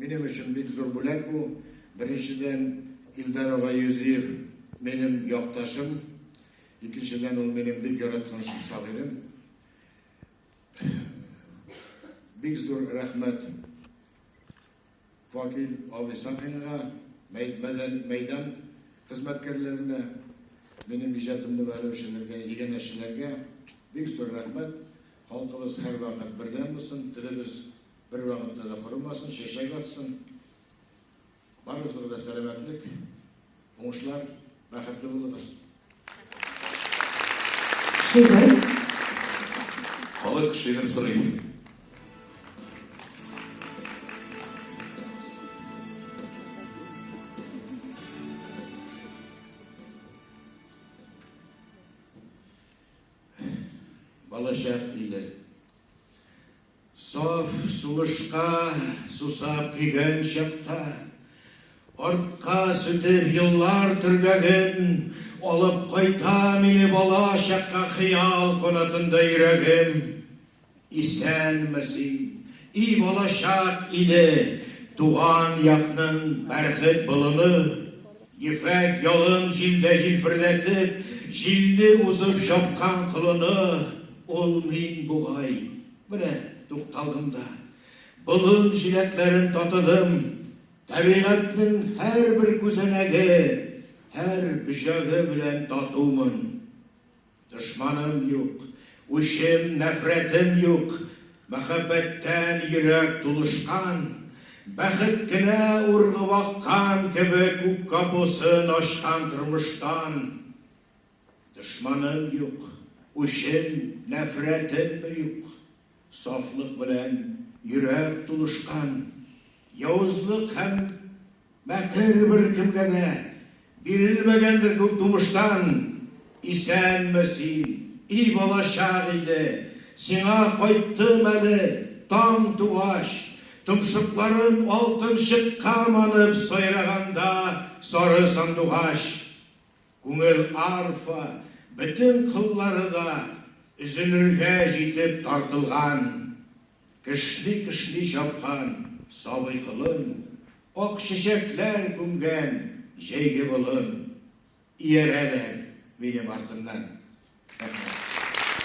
Минем өчен бик зур бүләк бу. Беренчедән, Илдар ага Юзиев минем якташым. Икенчедән, ул минем бик яраткан шагыйрем. Бик зур рәхмәт Факил абый Сафинга, мәйдан хезмәткәрләренә, минем иҗатымны бәяләүчеләргә, игенәчеләргә бик зур рәхмәт. Халкыбыз һәрвакыт бердәм булсын, телебез бер вакытта да корымасын, чәчәк атсын. Барыбызга да сәламәтлек, уңышлар, бәхетле булыгыз. Шигырь. Халык шигырь сорый. Балачак иле. Саф сулышка сусап көйгән чакта, Артка сүтеп еллар төргәген, Алып кайта мине балачакка Хыял канатында йөрәгем. Исәнме син, и балачак иле, Туган якның бәрхет болыны! Ефәк ялын җилдә җилферләтеп, Җилле узып чапкан колыны! Ул мин бугай, менә тукталдым да, Болын җиләкләрен татыдым. Табигатьнең һәрбер күзәнәге, Һәр бөҗәге белән татумын. Дошманым юк, үчем, нәфрәтем юк, Мәхәббәттән йөрәк тулышкан, Бәхет кенә ургып аккан кебек Күк капусын ачкан тормыштан. Дошманым юк, үчем, нәфрәтем юк. Сафлык белән йөрәк тулышкан, явызлык һәм мәкер беркемгә дә бирелмәгәндер күк тумыштан! Исәнме син, и балачак иле! Сиңа кайттым әле таң тугач, Томшыкларым алтынчыкка манып сайраганда сары сандугач. Күңел арфа бөтен кыллары да өзелергә җитеп тартылган, кешни-кешни чапкан сабый колын, ак чәчәкләр күмгән җәйге болын иярәләр минем артымнан. Рәхмәт.